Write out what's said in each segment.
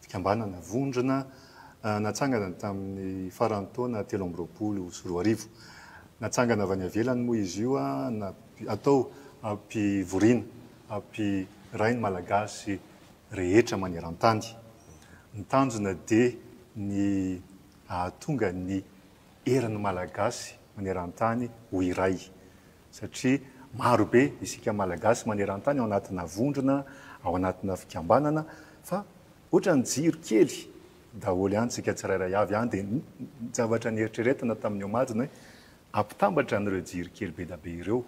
Fikambanana vondrona natsangana tamin'ny faran'ny taona telo amby roapolo sy roa arivo. Natsangana avy any ivelany moa izy io atao hampivoriana, hampiray ny Malagasy rehetra maneran-tany. Ny tanjona dia ny hahatonga ny. herin'ny Malagasy maneran-tany ho iray satria maro be isika Malagasy maneran-tany ao anatina vondrona, ao anatina fikambanana fa ohatran'ny jiro kely daholo ihany isika tsirairay avy any dia ny zavatra nieritreretina tamin'ny omaly ny hoe ampitambatra an'ireo jiro kely be dia be ireo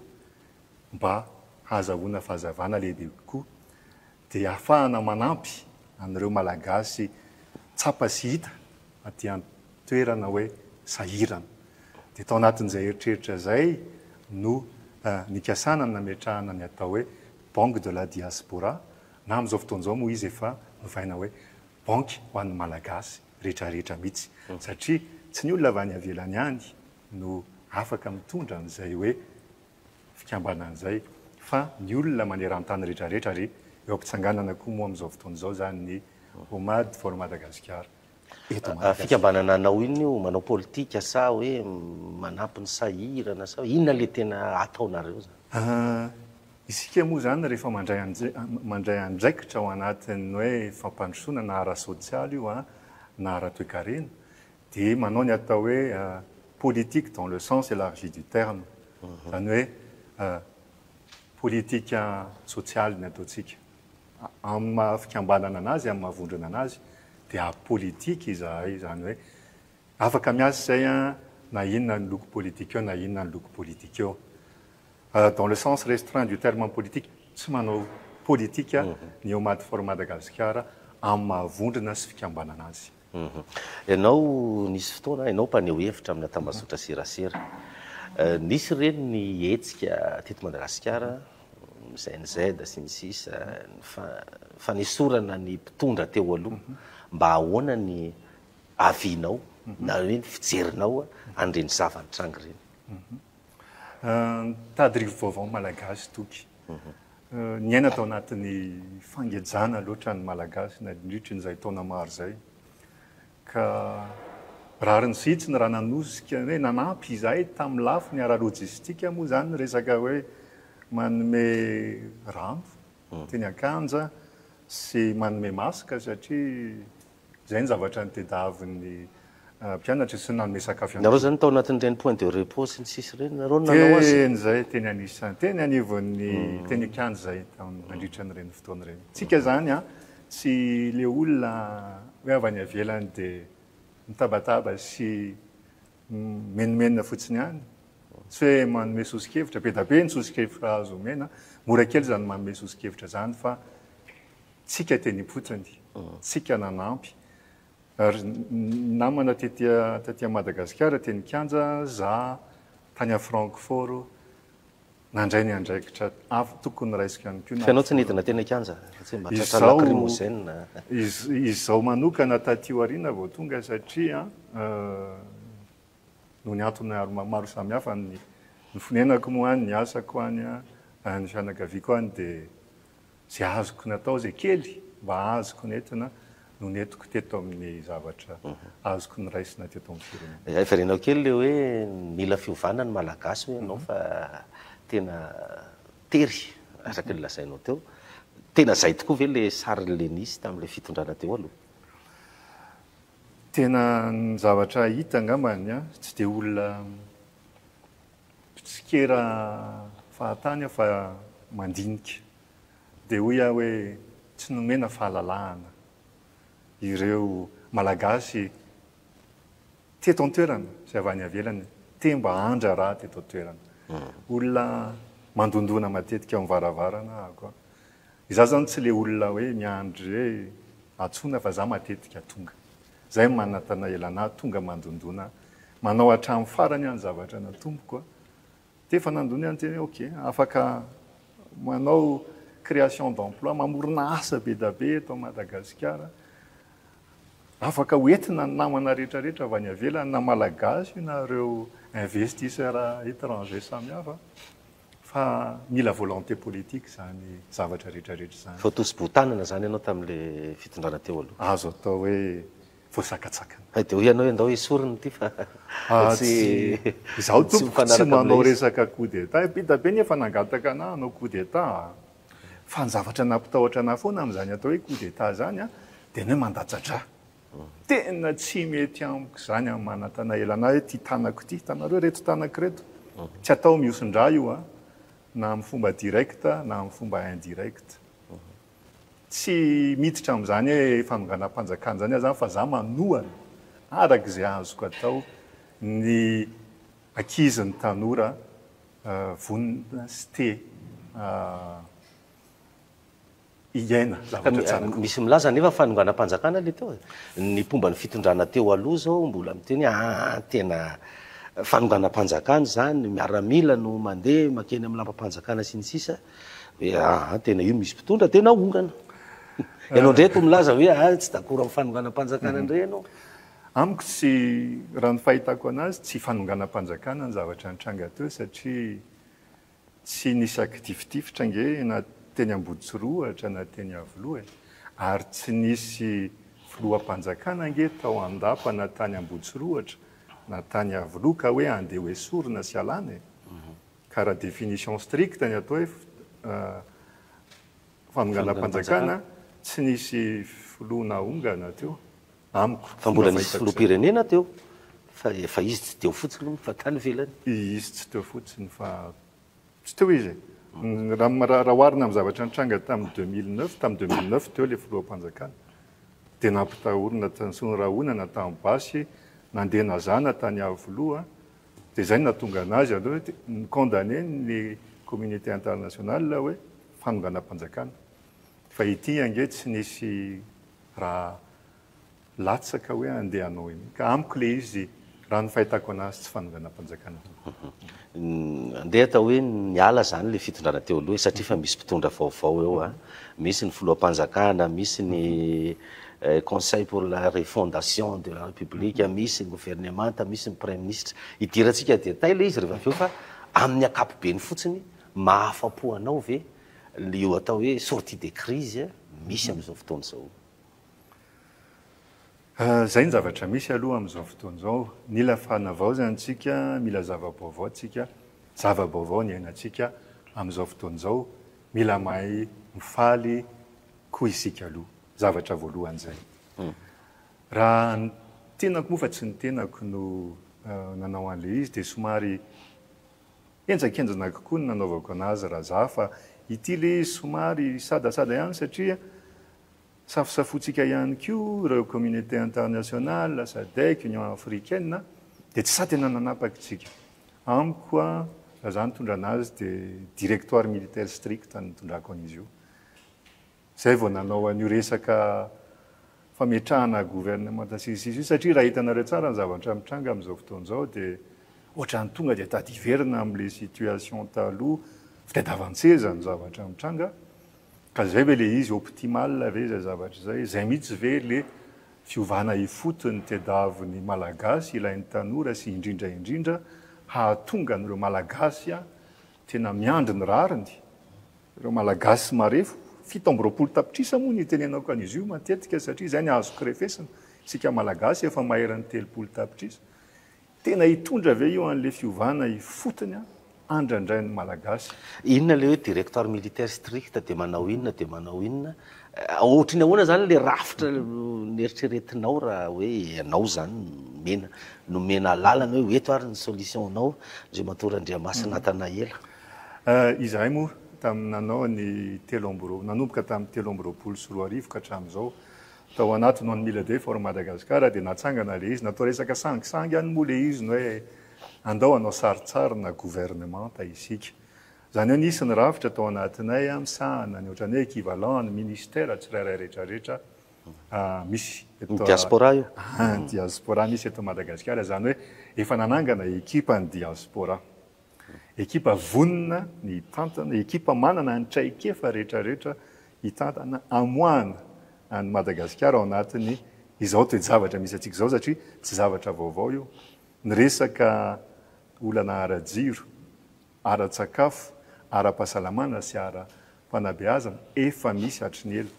mba hahazahoana fahazavana lehibe kokoa dia ahafahana manampy an'ireo Malagasy tsapa sy hita aty an-toerana hoe sahirana. Dia tao anatin'izay eritreritra izay no nikasana ny nametrahana ny atao hoe Banque de la Diaspora, na amin'izao fotoana izao moa izy efa novaina hoe Banky ho an'ny Malagasy rehetrarehetra mihitsy, satria tsy ny olona avy any ivelany ihany no afaka mitondra an'izay hoe fikambanana zay fa ny olona manerantany retraretra re eo ampitsanganana koa moa amizao fotoana zao zany ny Homad for Madagascar eto Madagascar. Fikambanana anao inona io? Manao politika sa hoe manampy ny sahirana sa inona le tena ataonareo zany? Isika moa zany rehefa mandray mandray andraikitra ao anatin'ny hoe fampandrosoana na ara-sosialy io na ara-toekarena dia manao ny atao hoe politique dans le sens élargi du terme, izany hoe politika sosialy ny ataontsika. Amin'ny maha fikambanana an'azy, amin'ny maha vondrona an'azy dia apolitika izahay, izany hoe afaka miasa izay na inona ny loko politika eo na inona ny loko politika eo. Dans le sens restreint du terme apolitika, tsy manao politika ny Omad for Madagasikara amin'ny maha vondrona sy fikambanana azy. Ianao nisy fotoana ianao mpaneho hevitra amina tambazotra serasera. Nisy ireny ny hetsika teto Madagasikara, GNZ sy ny sisa, ny fanesorana ny mpitondra teo aloha. Mba ahoana ny avis-nao na hoe ny fijerinao an'ireny zava-nitranga ireny? Mitady rivo-baovao ny Malagasy toky. Niaina tao anatin'ny fangejana loatra ny Malagasy nandritry ny izay taona maro izay, ka rariny sy hitsiny raha nanosika hoe nanampy izahay tamin'ny lafiny ara-lojistika moa izany ny resaka hoe manome rano teny Ankanja sy manome masque satria Izay ny zavatra nitedaavin'ny mpianatry sy nanome sakafo ihany koa. Nareo zany tao anatin'ireny point de repos sy ny sisa ireny nareo no nanao azy? Teny izay, teny anisan, teny anivon'ny, teny an-kianja izay tamin'ny nandritra an'ireny fotoana ireny. Tsika izany an, tsy ilay olona hoe avy any ivelany dia mitabataba sy mimenomenona fotsiny ihany, tsy hoe manome soso-kevitra, be dia be ny soso-kevitra azo omena, mora kely izany manome soso-kevitra izany fa, tsika teny am-potony, tsika nanampy. Ary namana tety amin'i Madagasikara, teny Kianja, za tany à Francfort, nandray ny andraikitra avo tokony raisiko ihany koa. Fa ianao tsy nidina teny an-kianja? Tsy mba tratra lacrymogène? Izaho manokana taty aoriana vao tonga satria noho ny antony maro samihafa, ny fonenako moa any, ny asako any, ny fianakaviako any dia. Izay azoko natao, izay kely mba azoko nentina no nentiko teto amin'ny zavatra azoko noraisina teto amin'ny firenena. Hay varianao kely ilay hoe mila fiovana ny Malagasy hoy ianao fa tena tery araka ny lazainao teo. Tena izay tokoa ve ilay sarin'ilay nisy tamin'ilay fitondrana teo aloha? Tena ny zavatra hita angambany, tsy dia olona mpitsikera fahatany aho fa mandinika. Dia hoy aho hoe tsy nomena fahalalahana ireo Malagasy teto an-toerana sy avy any ivelany te mba handrara teto an-toerana. Olona mandondona matetika ao am-baravarana aho koa. Izaho izany tsy ilay olona hoe miandry hoe antsoina fa izaho matetika tonga. Zay ny manatanaela anah tonga mandondona manao hatramin'ny farany ah ny zavatra natomboko ah de efa nandona ihany tena hoe ok afaka manao création d'emploi mamorona asa be da be eto Madagasikara afaka ho entina ny namana rehetra rehetra avy any avelany na malagasy io na reo investisseur étranger samihafa Fa mila volonté politique izany zavatra rehetra rehetra izany. Vao tosi-bohon-tanana izany ianao tamin'ilay fitondrana teo aloha. Azo atao hoe voasakatsakana. Hay dia hoy ianao hoe ndao esorina ity fa tsy Izaho tompoko tsy manao resaka coup d'Etat. Bida be ny efa nangataka anah hanao coup d'Etat a! Fa ny zavatra nampitahotra anah foana amin'izany atao hoe coup d'Etat izany dia ny hoe mandatsa-drà. Tena tsy mety amiko izany an Manantanaela na hoe ity tanako ity, hitanareo ireto tanako ireto, tsy atao mihosin-drà io an, na amin'ny fomba direct na amin'ny fomba indirect. Tsy miditra amin'izany hoe fanonganam-panjakana izany aho izany fa izaho manohana araka izay azoko atao ny ankizy, ny tanora vonona sy te hiaina zavatra tsara kokoa. Misy milaza anefa fa nonganam-panjakana ilay teo e. Ny mpomba ny fitondrana teo aloha izao mbola miteny hoe aa tena fanonganam-panjakana izany, miaramila no mandeha makeny amin'ny lambam-panjakana sy ny sisa, hoe aa tena io misy mpitondra dia naongana. Ianao indray toa milaza hoe aa tsy dakoro amin'ny fanonganam-panjakana indray ianao. Amiko tsy, raha ny fahitako an'azy, tsy fanonganam-panjakana ny zavatra nitranga teo satria Tsy nisy akitifitifitra ange na teny Ambodisorohatra na teny Iavoloha e! Ary tsy nisy filoham-panjakana ange tao Andapa na tany Ambodisorohatra na tany Iavoloha ka hoe andeha ho esorina sy alana e! Ka raha définition stricte ny atao hoe fanonganam-panjakana, tsy nisy filoha nahongana teo. amiko. Fa mbola nisy filoham-pirenena teo fa fa izy tsy teo fotsiny hono fa tany ivelany. Izy tsy teo fotsiny fa tsy teo izy e. Raha raha oharina amin'ny zavatra nitranga tamin'ny deux mille neuf, tamin'ny deux mille neuf teo ilay filoham-panjakana dia nampitahorina tany Soa Rahonana tany basy nandeha nazana tany Iavoloha dia izay no nahatonga anazy aloha hoe ni condamner ny communauté internationale hoe fanonganam-panjakana fa ity ange tsy nisy raha latsaka hoe handeha hanao an'io. Ka amiko ilay izy, raha ny fahitako an'azy, tsy fanonganam-panjakana izany. Andeha atao hoe niala izany ilay fitondrana teo aloha e, satria efa misy mpitondra vaovao eo an! Misy ny filoham-panjakana, misy ny conseil pour la refondation de la République, misy ny governemanta, misy ny praiminisitra. Idirantsika dia tay ilay izy rehefa avy eo fa amin'ny ankapobeny fotsiny, mahafa-po anao ve Lio atao hoe sortie de crise misy amin'izao fotoana izao. Izay ny zavatra misy aloha amin'izao fotoana izao. Mila fanavaozana isika, mila zava-baovao isika, zava-baovao ny iainantsika amin'izao fotoana izao. Mila mahay mifaly koa isika aloha. Zavatra voalohany izay. Raha ny tenako moa fa tsy ny tenako no nanao an'ilay izy dia somary. Henjakenjana kokoa ny nanaovako anazy raha za fa ity le somary sadasada ihany satria safosafoantsika ihany koa ireo communauté internationale, sadec, union africaine dia tsy sa tena nanapaka isika. Amiko a raha za nitondra anazy dia directoire militaire strict no nitondrako an'izy io. Zay vao nanao an'io resaka fametrahana gouvernemanta sy ny sisa io satria raha hitanareo tsara ny zavatra mitranga amin'izao fotoana izao dia ohatran'ny tonga dia tady hiverina amin'ilay situation taloha, fitadiavan-tseza no zavatra mitranga ka zay ve ilay izy optimale ve izay zavatra izay? Zay mihitsy ve ilay fiovana ifotony tediavin'ny malagasy ilain'ny tanora sy indrindra indrindra hahatonga an'ireo malagasy Tena miandry ny rariny ireo Malagasy marefo, fito amby roapolo tapitrisa moa no itenenako an'izy io matetika satria izay no azoko refesina, isika Malagasy efa maherin'ny telopolo tapitrisa. Tena hitondra ve io an'ilay fiovana ifotony andrandrain'ny Malagasy? Inona ilay hoe directoire militaire strict dia manao inona dia manao inona? Ohatry ny ahoana zany le rafitra neritreretinao raha hoe ianao zany nomena nomena alalana hoe eto ary ny solution nao Andriamatoa Randriamasina Nathanaela? Izahay moa tamin'ny nanao ny telo amby roa nanomboka tamin'ny telo amby roapolo sy roa arivo ka hatramin'izao tao anaty non mila day for Madagascar dia natsangana le izy natao resaka sangisangy any moa le izy ny hoe andao hanao sarintsarina gouvernementa isika Izany hoe nisy ny rafitra tao anatinay misahana ny ohatran'ny hoe equivalent an'ny ministera tsirairay rehetrarehetra misy eto. Ny diaspora io? Ny diaspora misy eto Madagasikara. Izany hoe efa nanangana ekipa ny diaspora. Ekipa vonona ny hitantana, ekipa manana ny traikefa rehetrarehetra hitantana, hamoahana an'i Madagasikara ao anatin'ny izao toe-javatra misy antsika izao satria tsy zavatra vaovao io. Ny resaka olana ara-jiro. ara-tsakafo, ara-pahasalamana sy ara-panabeazana efa misy hatry ny ela.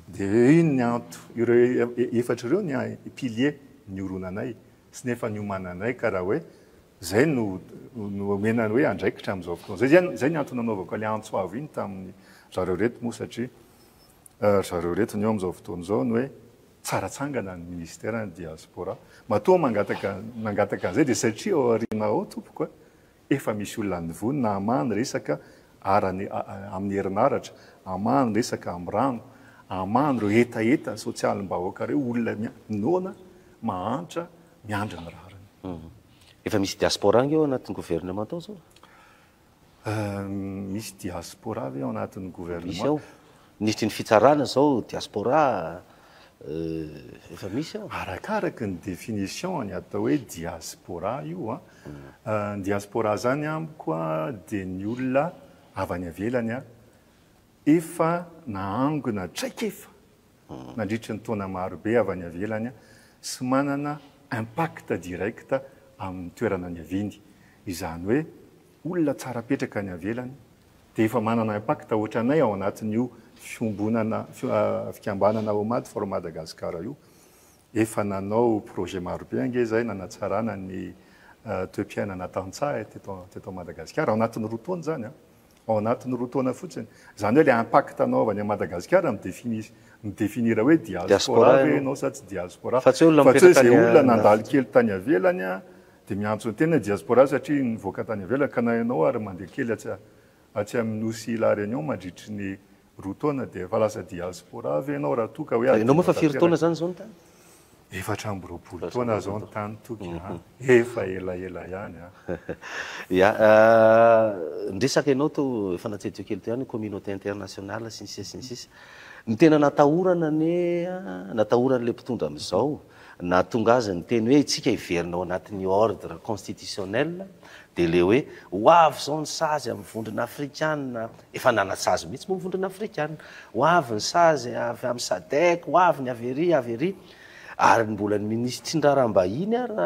Dia iny ny anto, ireo efatra ireo ny pilier nioronanay sy ny efa niomananay ka raha hoe izay no no omena ny hoe andraikitra amin'izao fotoana izao. Izay izay ny antony nanaovako ilay antso avo iny tamin'ny zareo ireto moa satria ry zareo ireto ny eo amin'izao fotoana izao ny hoe tsara atsangana ny Minisiteran'ny Diaspora. Matoa mangataka nangataka an'izay dia satria ao aoriana ao tompoko a! Efa misy olona nivonona hamaha ny resaka ara ny amin'ny herinaratra, hamaha ny resaka amin'ny rano, hamaha an'ireo hetaheta sosialim-bahoaka ireo olona noana, mahantra, miandry ny rariny. Efa misy diaspora ange ao anatin'ny gouvernement ao zao? Misy diaspora ve ao anatin'ny gouvernement? Misy ao. Nety ny fitsarana izao diaspora eh, efa misy ao. Arakaraka ny définition ny atao hoe diaspora io an. Ah. Ny diaspora izany amiko dia ny olona avy any avelany an, efa nahangona traikefa hmm. nandritry ny taona marobe avy any avelany sy manana impact direct amin'ny toerana niaviany. Izany hoe olona tsara petraka any avelany dia efa manana impact ohatranay ao anatin'io fiombonana fikambanana Homad for Madagascar io. Efa nanao projet maro be ange izay nanatsarana ny toe-piainana tantsaha teto teto Madagasikara, ao anatin'ny roa taona izany an! Ao anatin'ny roa taona fotsiny. Izany hoe ilay impact anaovany an'i Madagasikara mi-définir mi-définir hoe diaspora ve ianao sa tsy diaspora. Fa tsy hoe olona mipetraka any an-dafy. Fa tsy hoe izay olona nandalo kely tany ivelany an! Dia miantso tena ny diaspora satria nivoaka tany ivelany ka na ianao ary mandeha kely atsy atsy amin'ny nosy La Réunion mandritry ny roa taona dia efa lasa diaspora ve ianao raha toa ka hoe adinonao tanteraka efatra amby roapolo taona zao ny tany toky a! efa elaela ihany a! Ya, ny resaka ianao teo efa natsetseho kely teo ihany communauté internationale sy ny sisa sy ny sisa. Ny tena natahorana anie an, natahoran'ilay mpitondra amin'izao, Nahatonga azy ny teny hoe itsika hiverina ao anatin'ny ordre constitutionnel dia ilay hoe ho avy izao ny sazy amin'ny vondrona afrikana, efa nanasazy mihitsy moa ny vondrona afrikana, ho avy ny sazy avy amin'ny sadec, ho avy ny avy ery, avy ery. Ary mbola ny minisitry ny raharaham-bahiny ary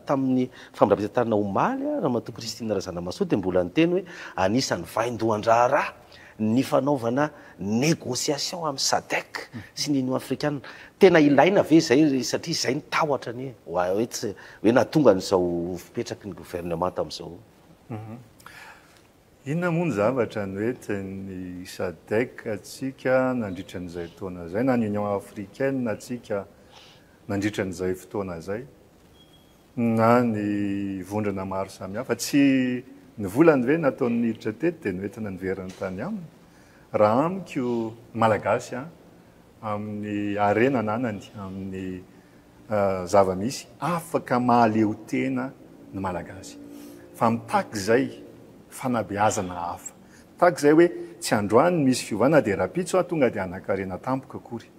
tamin'ny famindram-pitantarana omaly, Ramatoa Christine Razanamahasoa dia mbola niteny hoe anisan'ny vaindohan-draharaha. ny fanaovana négociation amin'i Sadec sy ny Union afrikanina. Tena ilaina ve izay satria izay ny tahotra anie wa hoe tsy hoe nahatonga an'izao fipetraky ny gouvernement tamin'izao. Inona moa ny zavatra noentin'ny Sadec antsika nandritra an'izay taona izay na ny Union africaine antsika nandritra an'izay fotoana izay? Na ny vondrona maro samihafa. Tsy ny volany ve nataony niditra teto dia noentina niverina tany aminy? Raha amiko Malagasy an, amin'ny harena ananany, amin'ny zava-misy, afaka mahaleo tena ny Malagasy. Fa mitaky izay fanabeazana hafa. Mitaky izay hoe tsy androany misy fiovana dia rahampitso aho tonga dia hanankarena tampoka akory.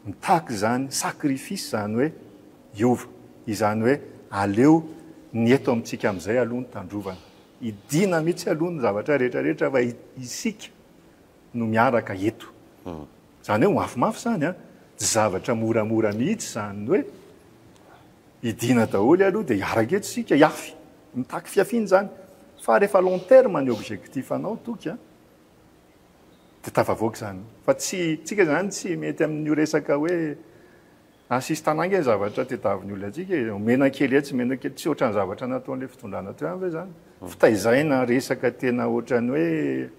mitaky izany sacrifice izany hoe hiova, izany hoe aleo ny eto amintsika amin'izay aloha no tandrovana. Hidiana mihitsy aloha ny zavatra rehetra rehetra fa isika no miaraka eto. Izany hoe mafimafy izany an! Tsy zavatra moramora mihitsy izany hoe hidiana daholo aloha dia hiaraka eto isika hiafy. Mitaky fiafiana izany. Fa rehefa long terme ny objectif-nao toky an! dia tafavoaka izany. Fa tsy, tsika izany tsy mety amin'io resaka hoe assistanat ange zavatra tedaviny olona antsika e. Omena kely etsy, omena kely, tsy ohatran'ny zavatra nataon'ilay fitondrana teo ihany ve izany? Fitaizana resaka tena ohatran'ny hoe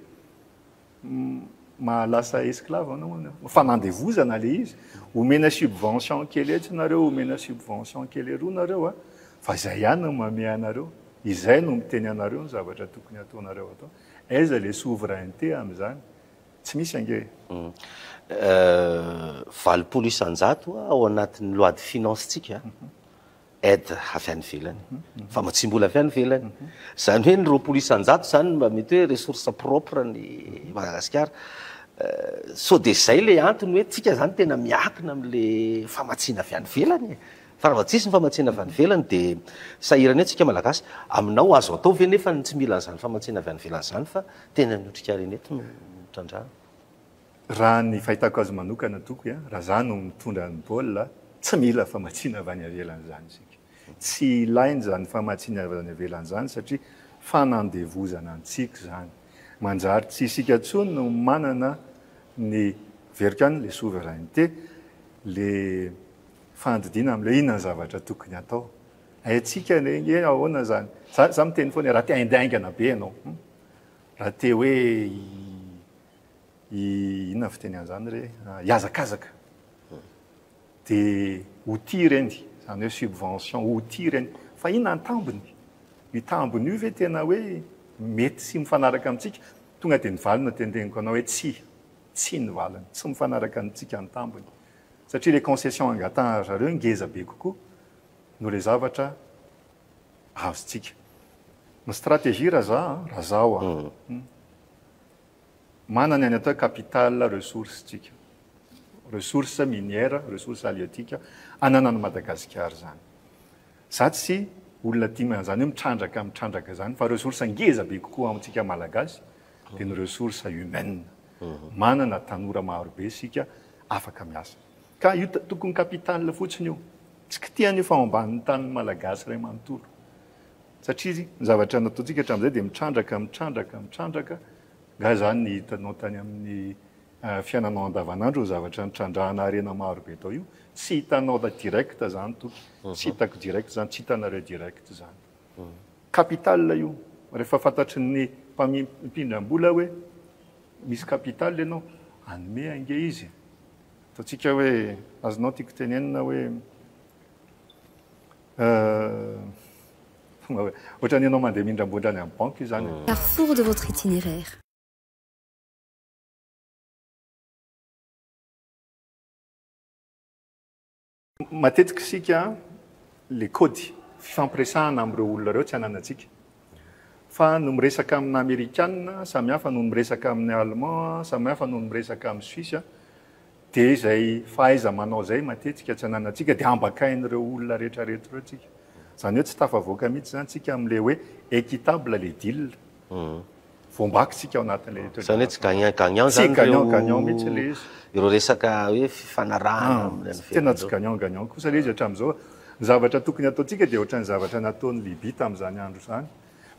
mahalasa esclave anao hono eo. Fanandevozana ilay izy. Omena subvention kely etsy nareo, omena subvention kely eroa nareo a. Fa izay ihany no mamehy anareo. Izay no miteny anareo ny zavatra tokony hataonareo atao. Aiza ilay souveraineté amin'izany? Tsy misy ange e! Valopolo isan-jato ao anatin'ny loi de finances-ntsika aide avy any ivelany, famatsiam-bola avy any ivelany. Izany hoe ny roapolo isan-jato izany mba mety hoe ressource propre an'i Madagasikara. Sao dia izay ilay antony hoe tsika izany tena miankina amin'ilay famatsiana avy any ivelany e! Fa raha vao tsisy ny famatsiana avy any ivelany dia sahirana eo tsika malagasy. Aminao azo atao ve nefa ny tsy mila an'izany famatsiana avy any ivelany izany fa tena ny otrikarena eto no trandrahana? Raha ny fahitako azy manokana tokoy a, raha za no mitondra ny baolina, tsy mila famatsiana avy any ivelany izany isika. Tsy ilaina izany famatsiana avy any ivelany izany satria fanandevozana antsika izany. Manjary tsy isika intsony no manana ny verika any le souveraineté, le. fandidiana amin'ilay inona ny zavatra tokony hatao. Haintsika ilay hoe ahoana izany. Za, za miteny foana raha te haindy haingana be ianao. Hmm? Raha te hoe i, i inona fiteny an'izany re? Ah, Hiazakazaka. Dia outil ireny, izany hoe subvention, outil ireny. Fa inona ny tambiny? Io tambiny io ve tena hoe mety sy mifanaraka amintsika? Tonga dia ny valiny no tenteniko anao hoe tsia. Tsia ny valiny. Tsy mifanaraka amintsika ny tambiny. Satria le concession angatahan ry zareo ngeza be kokoa no le zavatra azontsika. Ny stratégie raha za an, raha zaho an, manana ny atao hoe capital ressource tsika. Ressource minière, ressource halieutique ananan'i Madagasikara zany. Za tsy olona tia ma, zany hoe mitrandraka mitrandraka zany fa ressource ngeza be kokoa amintsika malagasy de ny ressource humaine. Manana tanora maro be isika afaka miasa. Ka io tokony capital fotsiny io. Tsy kitihana io fa ao ambanin'ny tanin'ny Malagasy iray manontolo. Satria ny zavatra nataontsika hatramin'izay dia mitrandraka, mitrandraka, mitrandraka. Angaha izany ny hitanao tany amin'ny fiainanao andavanandro ny zavatra nitrandrahana harena maro be tao io? Tsy hitanao direct izany toky. Tsy hitako direct izany, tsy hitanareo direct izany. Capital io rehefa fantatry ny mpamindram-bola hoe misy capital ianao, hanome ange izy e! Ataontsika hoe azonao tiako tenenina hoe tonga hoe ohatran'ny ianao mandeha mindram-bola any amin'ny banky izany e! Carrefour de votre itinéraire. Matetika isika le kody fifampiresahana amin'ireo olona ireo tsy ananantsika. Fa no miresaka amina amerikana samy hafa no miresaka amin'ny allemand samy hafa no miresaka amin'ny suisse dia izay fahaiza manao izay matetika tsy ananantsika dia ambakain'ireo olona rehetra rehetra ireo tsika. Izany hoe tsy tafavoaka mihitsy izany tsika amin'ilay hoe equitable le deal. Voambaky isika ao anatin'ilay état de Izany hoe tsy grâce. gagnant gagnant Tsy izany gagnant ireo gagnant mihitsy ilay izy. ireo resaka hoe fifanarahana Ah, amin'ny tsy- tena tsy gagnant gagnant kosa ilay izy hatramin'izao. Ny zavatra tokony hataontsika dia ohatran'ny zavatra nataon'i Libya tamin'izany andro izany,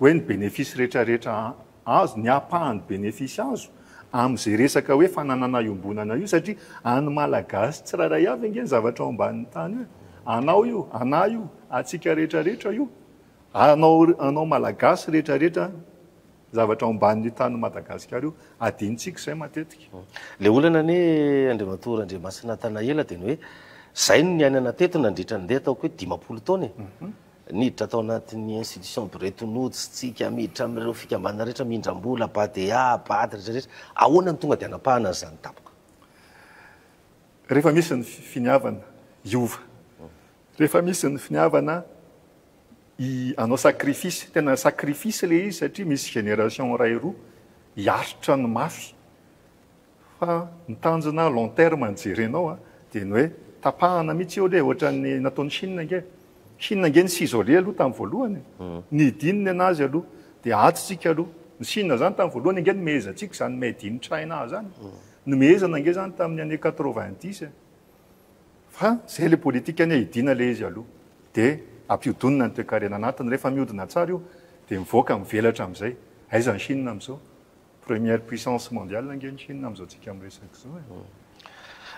hoe ny bénéfice rehetra rehetra a- azo, ny ampahany bénéfice azo amin'izay resaka hoe fananana iombonana io satria an'ny Malagasy tsirairay avy ange ny zavatra ao ambanin'ny tany io e. Anao io, anah io, antsika rehetra rehetra io. Anao anao malagasy rehetra rehetra zavatra ao ambanin' io tanin' i Madagasikara io adinontsika izay matetika. Ilay olana anie Andriamatoa Randriamasina Tanaela dia ny hoe izay no niainana teto nandritra ny ndeha ataoko hoe dimampolo taona e! Niditra tao anatin'ny institution Bretton Woods isika, miditra amin'ireo fikambanana rehetra mindram-bola, Badea, Bad, rehetra rehetra, ahoana no tonga dia hanapahana an'izany tampoka? Rehefa misy ny finiavana hiova Rehefa misy ny finiavana hi anao sacrifice, tena sacrifice le izy satria misy génération iray roa hiaritra ny mafy fa ny tanjona long terme no jerenao a, dia ny hoe tapahana mihitsy eo le ohatran'ny nataon'i Chine ange, Chine ange ni s'isoler aloha tamin'ny voalohany e, nidin ny anazy aloha dia ato tsika aloha, ny Chine zany tamin'ny voalohany ange nomehezantsika zany made in China zany, nomehezana ange zany tamin'ny année quatre-vingt-dix e, Fa zay le politika anie hidina le izy aloha de ampihodonina ny toekarena anatiny refa miodina tsara io de mivoaka mivelatra amizay aiza ny chine amizao première puissance mondiale ange ny chine amizao tsika miresaka zao e.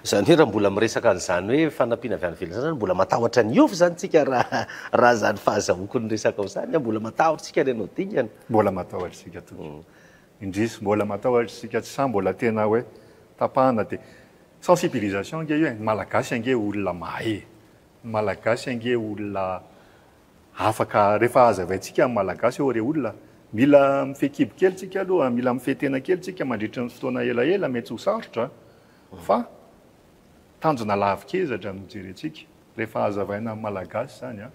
Zany hoe raha mbola miresaka an'izany hoe fanampiana avy any ivelany zany mbola matahotra ny hiova zany tsika raha raha zany fahazahoako ny resakao zany an, mbola matahotra tsika any anao dingana. Mbola matahotra tsika tompoko. Indrisy mbola matahotra isika tsy sahy mbola tena hoe tapahana dia sensibilisation ange io e, ny malagasy ange olona mahay e, ny malagasy ange olona afaka rehefa hazavaintsika ny malagasy ô re olona mila mifehy kibo kely tsika aloha, mila mifehy tena kely tsika mandritry ny fotoana elaela mety ho sarotra fa tanjona lavikezatra no jerentsika rehefa hazavaina ny malagasy zany a,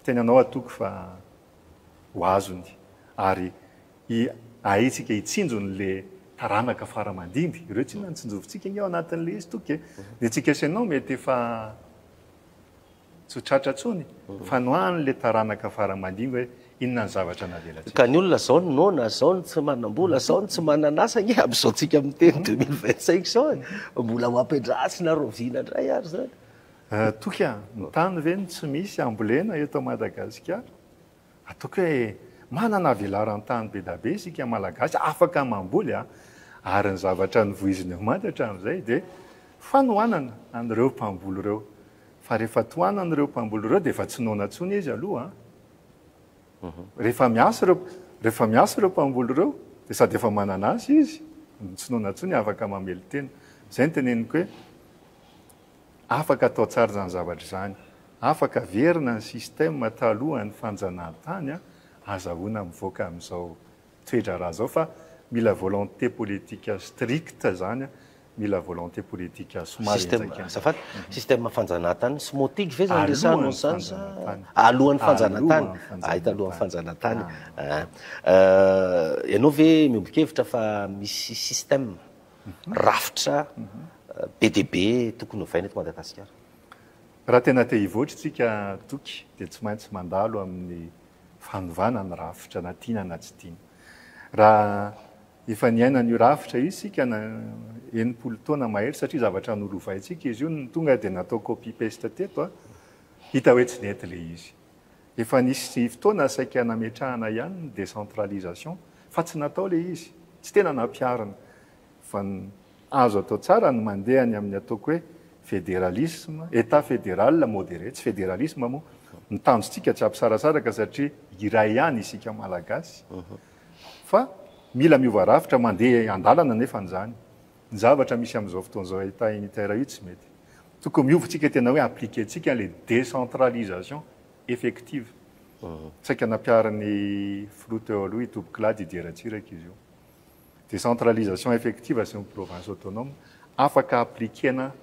tena anao atoko fa ho azony ary i ahintsika hitsinjo ny le taranaka fara mandimby ireo tsinona ny tsinjovintsika nge ao anatin'ny le izy toky e ny antsika sy ianao mety efa tsy ho tratra tsony fa no any le taranaka fara mandimby hoe inona ny zavatra navelantsika ka ny olona zao ny noana zao ny tsy manambola zao ny tsy mananasa nge amizao tsika miteny deux mille vingt cinq zao e mbola ho ampiadrasina rahoviana ndray ary zany Toky a! ny tany ve no tsy misy ambolena eto Madagasikara? Ataoko hoe manana velaran-tany be da be isika Malagasy afaka mamboly a! ary ny zavatra novoizina eo Mada hatramin'izay dia fanohanana an'ireo mpamboly ireo fa rehefa tohanana ireo mpamboly ireo dia efa tsy noana intsony izy aloha a! rehefa miasa ireo rehefa miasa ireo mpamboly ireo dia sady efa manana asa izy no tsy noana intsony afaka mamely tena. Izay no teneniko hoe. Afaka atao tsara izany zavatra izany. Afaka averina ny système talohan'ny fanjanahantany, azahoana mivoaka amin'izao toe-draharaha izao fa mila volonté politique stricte izany, mila volonté politique somary Système, henjakenjana. azafady, système fanjanahantany sy motige ve izany resahanao Alohan'ny izany sa fanjanahantany. alohan'ny fanjanahantany? Alohan'ny fanjanahantany. Hay talohan'ny fanjanahantany. Ah. Ah. Ianao ve miombon-kevitra fa misy système? rafitra be dia be tokony hovaina eto Madagasikara. Raha tena te hivoatra isika Toky dia tsy maintsy mandalo amin'ny fanovana ny rafitra na tiana na tsy tiana. Raha efa niaina an'io rafitra io isika enimpolo taona mahery satria zavatra nolovaintsika izy io no tonga dia natao copy paste teto, hita hoe tsy nety ilay izy. Efa nisy fotoana saika nametrahana ihany ny décentralisation fa tsy natao ilay izy, tsy tena nampiharina. Fa ny azo atao tsara ny mandeha any amin'ny ataoko hoe fédéralisme, État fédéral modéré, tsy fédéralisme moa, ny tanjontsika tsy hampisarasaraka satria iray ihany isika Malagasy. Fa mila miova rafitra, mandeha an-dalana anefa izany. Ny zavatra misy amin'izao fotoana izao Etat unitaire io tsy mety. Tokony miova tsika tena hoe appliquer tsika ilay décentralisation effective. Saika nampiharin'ny Filoha teo aloha i Toby Claude i Dia Ratsiraka izy io. Décentralisation effective asian'ny provinces autonomes afaka appliquer-na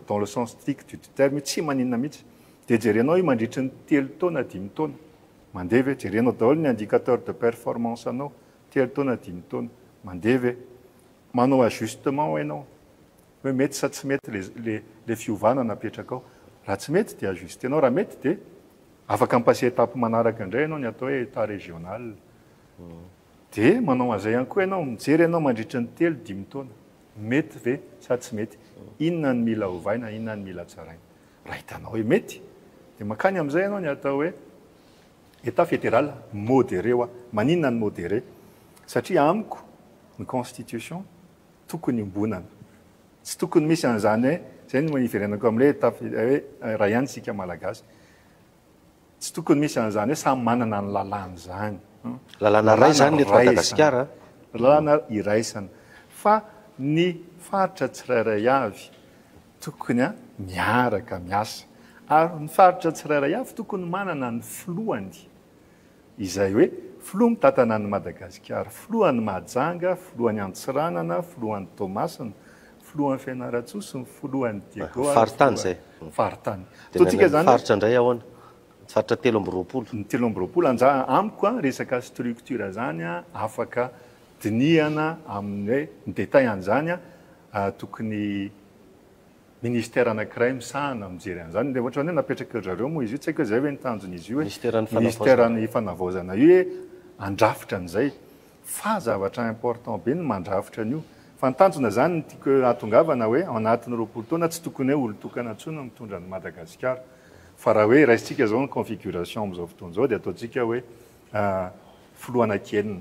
dans le sens strict du terme io tsy maninona mihitsy. Dia jerenao io mandritry ny telo taona dimy taona. Mandeha ve? Jerenao daholo ny indicateur de performance-nao telo taona dimy taona. Mandeha ve? Manao ajustement enao hoe mety sa tsy mety le le fiovana napetrakao. Raha tsy mety dia ajustenao, raha mety dia afaka mi-passer étape manaraka indray enao, ny atao hoe état régional. Dia manao an'izay ihany koa enao, mijery enao mandritra ny telo, dimy taona. Mety ve sa tsy mety? Inona ny mila ovaina, inona ny mila tsaraina. Raha hitanao hoe mety dia mankany amin'izay enao ny atao hoe Etat federal moderé hoa maninona ny moderé? Satria amiko ny constitution tokony iombonana. Tsy tokony misy an'izany hoe izay no iverenako amin'ilay etat federal hoe iray ihany isika malagasy. Tsy tokony misy an'izany hoe samy manana ny lalàny izany. Lalàna iray izany ny eto Madagasikara an. Lalàna iraisana fa ny faritra tsirairay avy Tokony miaraka miasa ary ny faritra tsirairay avy tokony manana ny filohany izay hoe filoha mitantana an'i Madagasikara, filohan'i Mahajanga, filohan'i Antsiranana, filohan'i Toamasina, filohan'i Fianarantsoa sy ny filohan'i Diego ary Faritany izay. filohan'ny faritany. Dia ny Ataontsika an'ny izany hoe. faritra indray ahoana? Ny faritra telo amby roapolo. Ny telo amby roapolo anja amiko an, resaka structure izany an, afaka dinihana amin'ny hoe ny détail an'izany an, Tokony ministera anankiray misahana mijery an'izany. Ilay ohatrany hoe napetrak'i ry zareo moa izy io, tsy haiko hoe izay ve ny tanjon'izy io hoe ministeran'ny fanavaozana io hoe handrafitra an'izay. Fa zavatra important be ny mandrafitra an'io. Fa ny tanjona izany no tiako hahatongavana hoe ao anatin'ny roapolo taona tsy tokony hoe olon-tokana intsony no mitondra an'i Madagasikara. Fa raha hoe raisintsika izao ny configuration amin'izao fotoana izao dia ataontsika hoe filohana kely.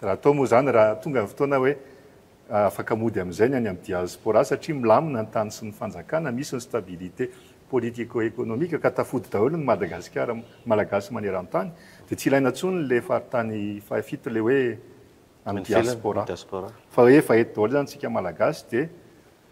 Raha atao moa izany raha tonga ny fotoana hoe Afaka mody amin'izay ny any amin'ny diaspora satria milamina ny tany sy ny fanjakana, misy ny stabilité politico-économique ka tafody daholo ny Madagasikara, Malagasy maneran-tany dia tsy ilaina intsony ilay faritany fahafito ilay hoe any diaspora fa efa eto daholo izany isika Malagasy dia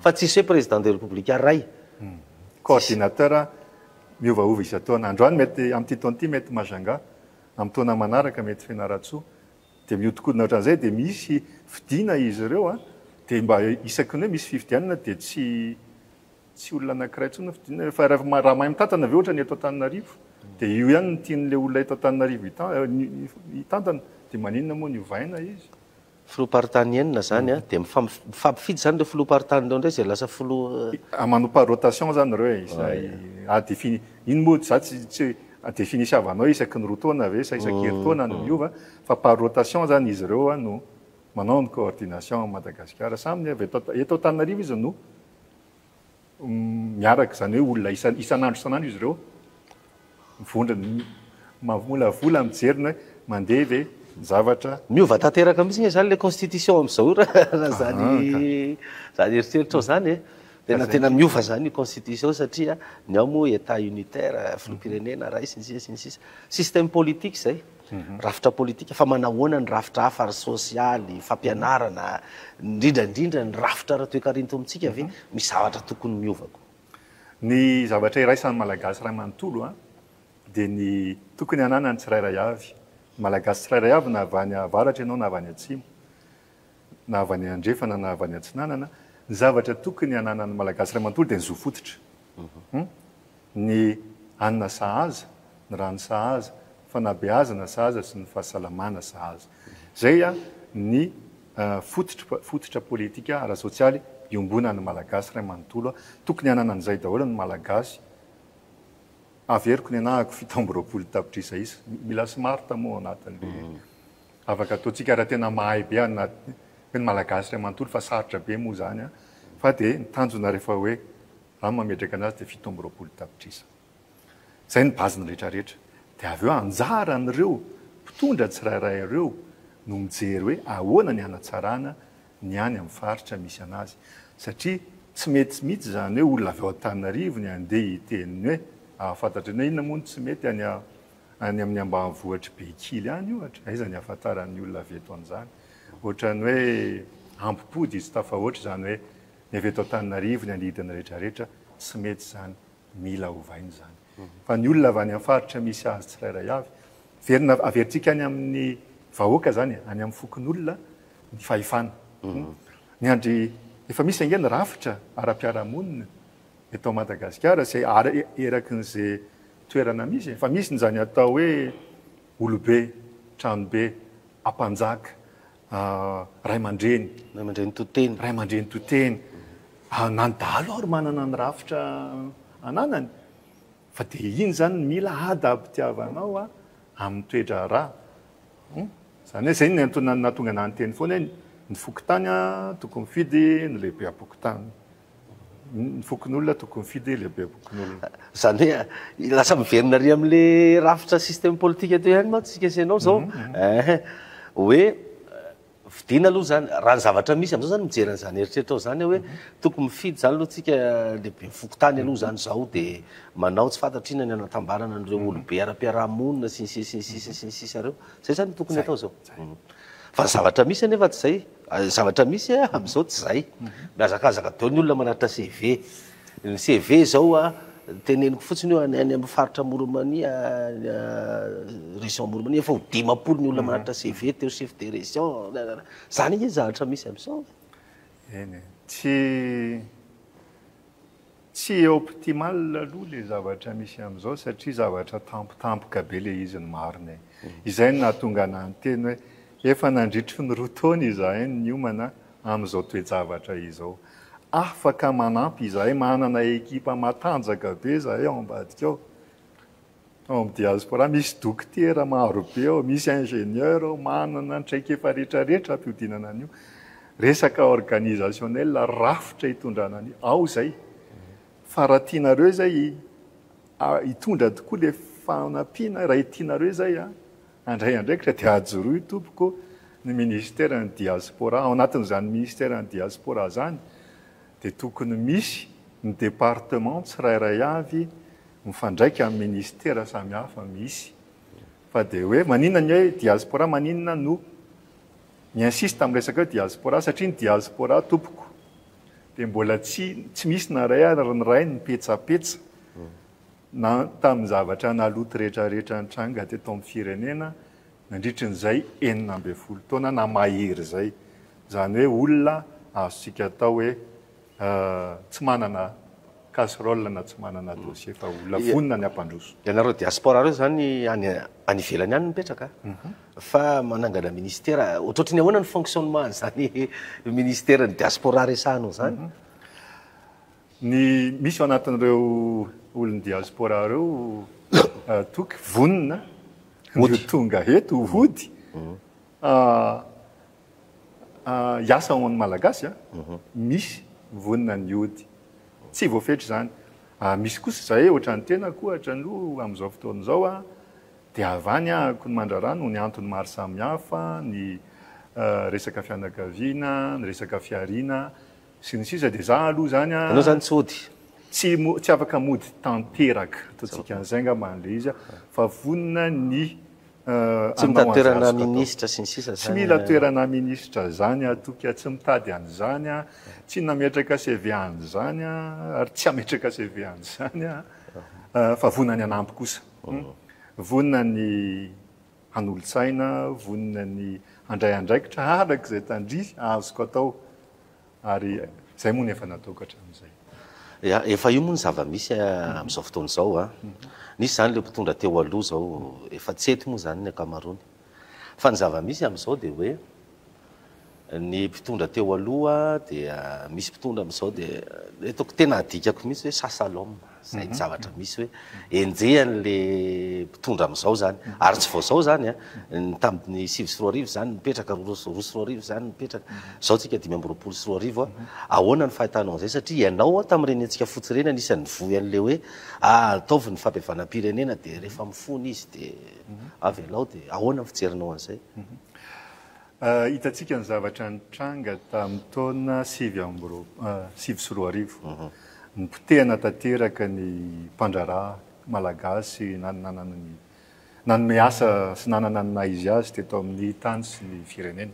Fa tsisy hoe Président de République ray. Coordinateur miovaova isan-taona. Androany mety, amin'ity taona ity mety Majunga, amin'ny taona manaraka mety Fianarantsoa. Dia mihodinkodina ohatran'izay dia misy fidiana izy ireo dia mba isaky ny hoe misy fifidianana dia tsy tsy olona anankiray intsony no fidiana ireo fa raha mahay mitantana ve ohatran'ny eto Antananarivo dia io ihany no tian'ilay olona eto Antananarivo hitantana dia maninona moa ny ovaina izy? Filoham-paritany enina izany an, dia mifampifidy izany ireo filoham-paritany ireo indray izay lasa filoha. Manao par rotation izany ireo e, izay à défini, iny moa izaho tsy tsy hoe à défini siavanao isaky ny roa taona ve sa isaky herintaona no miova fa par rotation izany izy ireo no manao ny coordination à Madagasikara, samy avy eto Antananarivo izy no. miaraka, izany hoe olona isan isan'andro isan'andro izy ireo mivondrona, mamolavola, mijery ny hoe mandeha ve ny zavatra. Miova tanteraka mihitsy nge zany le constitution amzao io raha zany zany eritreritrao zany e! Tena tena miova zany io constitution satria ny ao moa etat unitaire, filoham-pirenena, rais, sy ny sisa sy ny sisa. Système politique zay. Rafitra politika, fa manahoana ny rafitra hafa ry sosialy, fampianarana, indrindra indrindra ny rafitra ara-toekarentom-tsika ve misy zavatra tokony miova koa? Ny zavatra iraisan'ny Malagasy iray manontolo dia ny tokony hananan'ny tsirairay avy, Malagasy tsirairay avy na avy any avaratra ianao na avy any atsimo, na avy any andrefana na avy any atsinanana, ny zavatra tokony hananan'ny Malagasy iray manontolo dia ny zo fototra. Ny hanina sahaza, ny rano sahaza, ny fanabeazana sahaza sy ny fahasalamana sahaza. Izay ny fototra fototra politika ara-sosialy iombonan'ny Malagasy iray manontolo. Tokony hanana an'izay daholo ny Malagasy. Averiko ny anahako fito amby roapolo tapitrisa isa. Mila smart moa ao anatin'ilay. Afaka ataontsika raha tena mahay be anà hoe ny Malagasy iray manontolo fa sarotra be moa izany an! Fa dia ny tanjona rehefa hoe raha ny mametraka an'azy dia fito amby roapolo tapitrisa. Izay ny base-ny rehetra rehetra. Dia avy eo anjaran'ireo mpitondra tsirairay ireo no mijery hoe ahoana ny hanatsarana ny any amin'ny faritra misy an'azy. Satria tsy mety mihitsy izany hoe olona avy ao Antananarivo ny handeha hiteny ny hoe ahafantatrany hoe inona moa no tsy mety any Any amin'ny ambanivohitr'i Bekily any ohatra, aiza ny ahafantaran'ny olona avy eto an'izany? Ohatran'ny hoe hampim-pody izy, tafahoatra izany hoe ny avy eto Antananarivo, ny angidiny rehetra rehetra, tsy mety izany, mila ovaina izany. Fa ny olona avy any amin'ny faritra misy azy tsirairay avy, averina, averintsika any amin'ny vahoaka izany e, any amin'ny fokonolona ny fahefana. Miandry, efa misy ange ny rafitra ara-piarahamonina eto Madagasikara, izay erakin'izay toerana misy e! Fa misy njany atao hoe olobe, tranobe, ampanjaka, raimandreny, Raimandreny to-teny. raimandreny to-teny, na ny dahalo ary manana ny rafitra ananany, fa dia iny zany no mila adab-tiavanao amin'ny toe-draharaha. Hum. Zany hoe zay no niantonan'ny nahatonga anah niteny foana hoe ny fokontany tokony mifidy ny lehibeam-pokontany. Ny fokonolona tokony mifidy lehibe bokon'olona. Izany hoe lasa miverina ary amin'le rafitra système politique teo ihany mantsy isika sy ianao izao. Ehe. Hoe fidiana aloha izany, raha ny zavatra misy amin'izao izany mijery an'izany eritreritrao izany aho hoe tokony mifidy izany aloha isika lehiben'ny fokontany aloha izany izao dia manao tsy fantatro inona ny hanatambarana an'ireo olobe ara-piarahamonina sy ny sisa sy ny sisa sy ny sisa ireo. Izay izany no tokony atao izao. Fa ny zavatra misy anefa tsy izay. Zavatra misy a, amin'izao tsy izay. Mihazakazaka daholo ny olona manatitra CV. Ny CV izao a, teneniko fotsiny io, any amin'ny faritra Moromania, région Moromania, efa ho dimampolo ny olona manatitra CV teo chef de région, nanana. Izany ange ny zavatra misy amin'izao e. Eny e. Tsy. Tsy optimal aloha le zavatra misy amzao satria zavatra tampotampoka be le izy ny marina e. Izay no nahatonga anah niteny hoe efa nandritry ny roa taona izahay no niomana amzao toe-javatra izao. Afaka manampy izahay, manana ekipa matanjaka be izahay ao ambadika ao. Ao amin'ny diaspora misy dokotera maro be ao, misy ingénieur ao, manana traikefa rehetra rehetra ampihodinana an'io. Resaka organisationnel, rafitra hitondrana an'io. Ao izay. Fa raha tianareo izay hitondra tokoa ilay fanampiana, raha tianareo izay handray andraikitra dia ajoroy tompoko ny ministeran'ny diaspora. Ao anatin'izany ministeran'ny diaspora izany dia tokony misy ny département tsirairay avy mifandraika amin'ny ministera samihafa misy fa dia hoe maninona ny hoe diaspora maninona no mi-insiste amin'ny resaka hoe diaspora satria ny diaspora tompoko dia mbola tsy tsy misy na iray ary ny iray ny petsapetsa na tamin'ny zavatra naloto rehetra rehetra nitranga teto amin'ny firenena nandritry ny izay enina ambin'ny folo taona na mahery izay izany hoe olona azontsika atao hoe tsy manana casserole na tsy manana dossier fa olona vonona ny hampandroso. Ianareo diaspora reo zany any any ivelany any mipetraka fa manangana ministera ohatrohatry ny ahoana ny fonctionnement an'izany ministera ny diaspora resahanao zany? Ny misy ao anatin'ireo olon'ny diaspora reo toky vonona ny ho tonga eto hody Hiasa ho an'ny Malagasy a, misy vonona ny hody. Tsy voafetra izany. Misy kosa izahay ohatra ny tenako ohatra aloha amin'izao fotoana izao a, dia avy any aho ko mandrara noho ny antony maro samihafa, ny resaka fianakaviana, ny resaka fihariana sy ny sisa dia izaho aloha izany a. Ianao izany tsy hody? Tsy tsy afaka mody tanteraka, ataontsika an'izay angamba ilay izy a, fa vonona ny Tsy mitady toerana minisitra sy ny sisa zany. Tsy mila toerana minisitra zany aho toky a, tsy mitady an'izany aho, tsy nametraka CV an'izany aho ary tsy hametraka CV an'izany aho fa vonona ny hanampy kosa. Vonona ny hanolo-tsaina, vonona ny handray andraikitra araka izay tandrihy azoko atao. Ary izay moa no efa natao ka hatramin'izay. Ya, efa io moa no zava-misy amin'izao fotoana izao. Nisy izany ilay mpitondra teo aloha, izao efa tsy eto moa izany ny ankamaroany. Fa ny zava-misy amin'izao dia hoe ny mpitondra teo aloha dia misy mpitondra amin'izao dia ny hitako tena adikako mihitsy hoe Sasalom. izay ny zavatra misy hoe enjehany le mpitondra amizao zany ary tsy vao zao zany a ny tamin'ny sivy sy roa arivo zany nipetraka roa sy roa arivo zany nipetraka zao tsika dimy amby roapolo sy roa arivo a ahoana ny fahitanao an'izay satria ianao a tamin'ireny hetsika fotsy ireny anisan'ny nivoy an'le hoe ataovy ny fabevanam-pirenena de rehefa mifona izy de avelao de ahoana ny fijerinao an'izay Hitantsika ny zavatra nitranga tamin'ny taona sivy amby roapolo, sivy sy roa arivo. Nipotehana tanteraka ny mpandraharaha malagasy nanana ny, nanome asa sy nanana ny maha izy azy teto amin'ny tany sy ny firenena.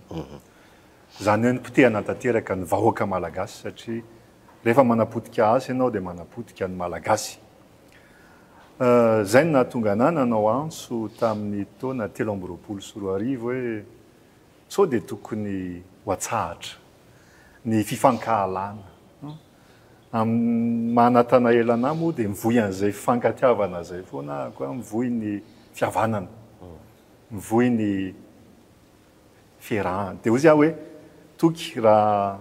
Izany hoe nipotehana tanteraka ny vahoaka malagasy satria rehefa manapotika asa ianao dia manapotika ny malagasy. Izay no nahatonga anà nanao antso tamin'ny taona telo amby roapolo sy roa arivo hoe sao dia tokony ho atsahatra ny fifankahalana. Amin'ny maha Natanael anà moa dia mivoy an'izay fifankatiavana izay foana aho ka mivoy ny fihavanana, mivoy ny fiarahana. Dia hoy aho hoe toky raha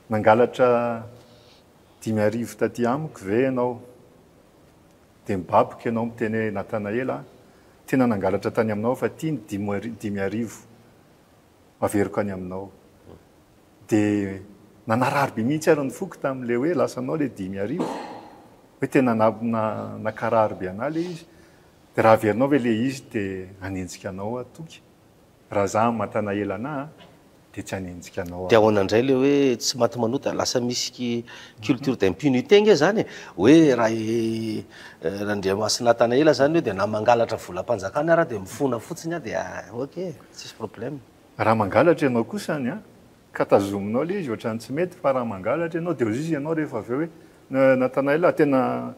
nangalatra Dimy arivo taty amiko ve ianao? Dia mibaboka ianao miteny hoe, Natanaela a! Tena nangalatra tany aminao aho fa ity ny dimy arivo averiko any aminao. Dia nanarary be mihitsy ary ny foko tamin'ilay hoe lasanao ilay dimy arivo. Hoe tena nankarary be anà ilay izy. Dia raha averinao ve ilay izy dia hanenjika anao aho toky. Raha za amatana ela ana a de tsy hanenjika anao aho. De ahoana ndray le hoe tsy maty manota, lasa misy ki culture d'impunité nge zany e, hoe ra i Randriamasinatana ela zany eo de na mangalatra volampanjakana ara de mifona fotsiny a de ok e, tsisy problème. Raha mangalatra ianao kosa any a, ka tazominao le izy ohatrany tsy mety fa raha mangalatra ianao de hozizy ianao rehefa avy eo hoe Natanael a tena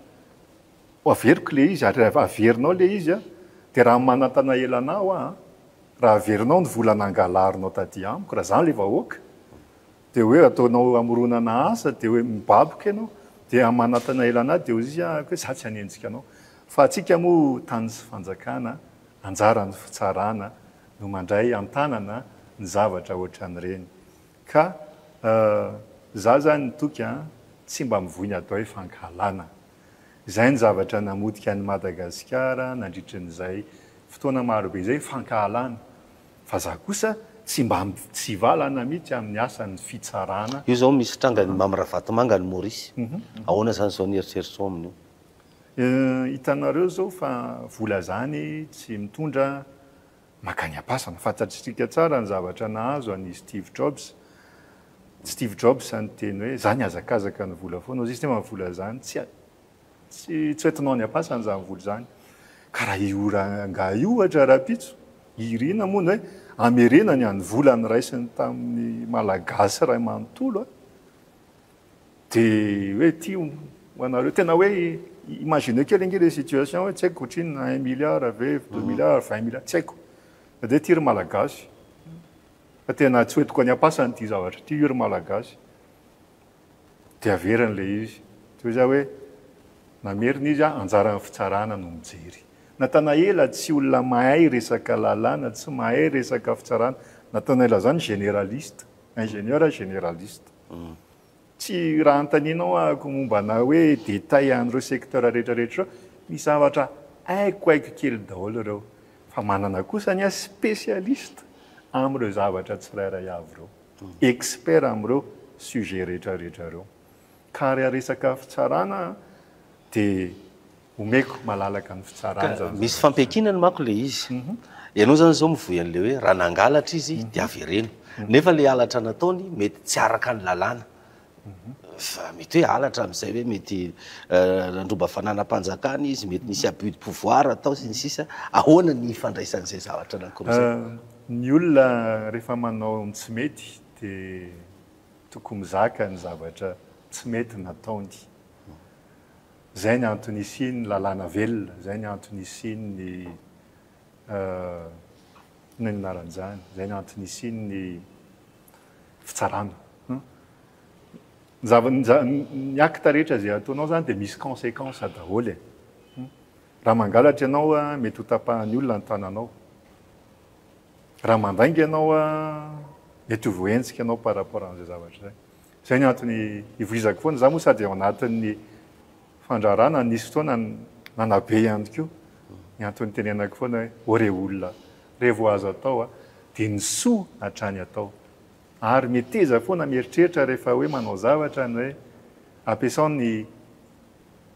Ho averiko ilay izy, ary raha averinao ilay izy an, dia raha manantana ela anà hoa an, raha averinao ny vola nangalarinao taty amiko, raha izany ilay vahoaka, dia hoe ataonao hamoronana asa, dia hoe mibaboka ianao, dia raha manantana ela anà, dia hoy izy an, hoe izaho tsy hanenjika anao. Fa antsika moa tany sy fanjakana, anjaran'ny fitsarana no mandray an-tanana ny zavatra ohatran'ireny. Ka izaho izany toky an, tsy mba mivoy ny atao hoe fankahalana. Izay ny zavatra namotika an'i Madagasikara nandritry an'izay fotoana maro be izay, fankahalana. Fa za kosa tsy mba mitsivalana mihitsy amin'ny asan'ny fitsarana. Io izao misy trangan'i Mamy Ravatomanga any Maurice. Ahoana izany izao ny eritreritrao amin'io? Hitanareo izao fa vola izany tsy mitondra Makany am-pasana. Fantatsika tsara ny zavatra nahazo an' i Steve Jobs. Steve Jobs izany niteny hoe, Izaho nihazakazaka ny vola foana. Hoy izy, Ny momba ny vola izany, tsy tsy tsy ho entinao any am-pasana izany vola izany. Ka raha io rangahy ohatra rahampitso, i Irina moa ny hoe hamerenany an' ny vola niraisiny tamin'ny Malagasy iray manontolo an! Dia hoe ity ho anareo, tena hoe imagineo kely ange ilay situation hoe tsy haiko ohatrinona, un milliard ve, deux milliards, vingt milliards, tsy haiko. Dia hoe ity ry Malagasy, fa tena tsy hoentiko any am-pasana ity zavatra ity, io ry Malagasy. Dia averiny ilay izy. Toy izay hoe namerina izy an, anjaran'ny fitsarana no mijery. Natanaela tsy olona mahay resaka lalàna, tsy mahay resaka fitsarana. Natanaela izany généraliste, ingénieur généraliste. Tsy raha antaninao ahako momba anà hoe détail an'ireo secteurs rehetra rehetra ireo, misy zavatra haiko haiko kely daholo ireo, fa manana kosa ny ahy spécialiste amin'ireo zavatra tsirairay avy ireo, expert amin'ireo sujets rehetra rehetra ireo. Ka raha resaka fitsarana dia omeko malalaka ny fitsarana zany. Misy fampiankinany manko ilay izy. Ianao zany zao mivoy an'ilay hoe raha nangalatra izy dia avereno. Nefa ilay halatra nataony mety tsy araka ny lalàna. Fa mety hoe halatra amin'izay hoe mety nandroba fananam-panjakana izy, mety nisy abus de pouvoir atao sy ny sisa. Ahoana ny ifandraisan'izay zavatra anankiroa izay? Ny olona rehefa manao ny tsy mety dia tokony mizaka ny zavatra tsy mety nataony. Izay ny antony isian'ny lalàna velona, izay ny antony isian'ny inona ny anaran'izany, izay ny antony isian'ny fitsarana. Ny zava, ny acte rehetra izay ataonao izany dia misy consequence daholo e. Raha mangalatra ianao, mety ho tapahan'ny olona ny tananao. Raha mandainga ianao, mety ho voahenjika ianao par rapport an'izay zavatra izay. Izay ny antony ivoizako foana. Za moa sady ao anatin'ny fandraharahana, nisy fotoana nanabe ihany koa. Ny antony itenenako foana hoe, ô re olona, re vao azo atao a, dia ny soa hatrany atao. Ary meteza foana mieritreritra rehefa hoe manao zavatra ny hoe ampiasao ny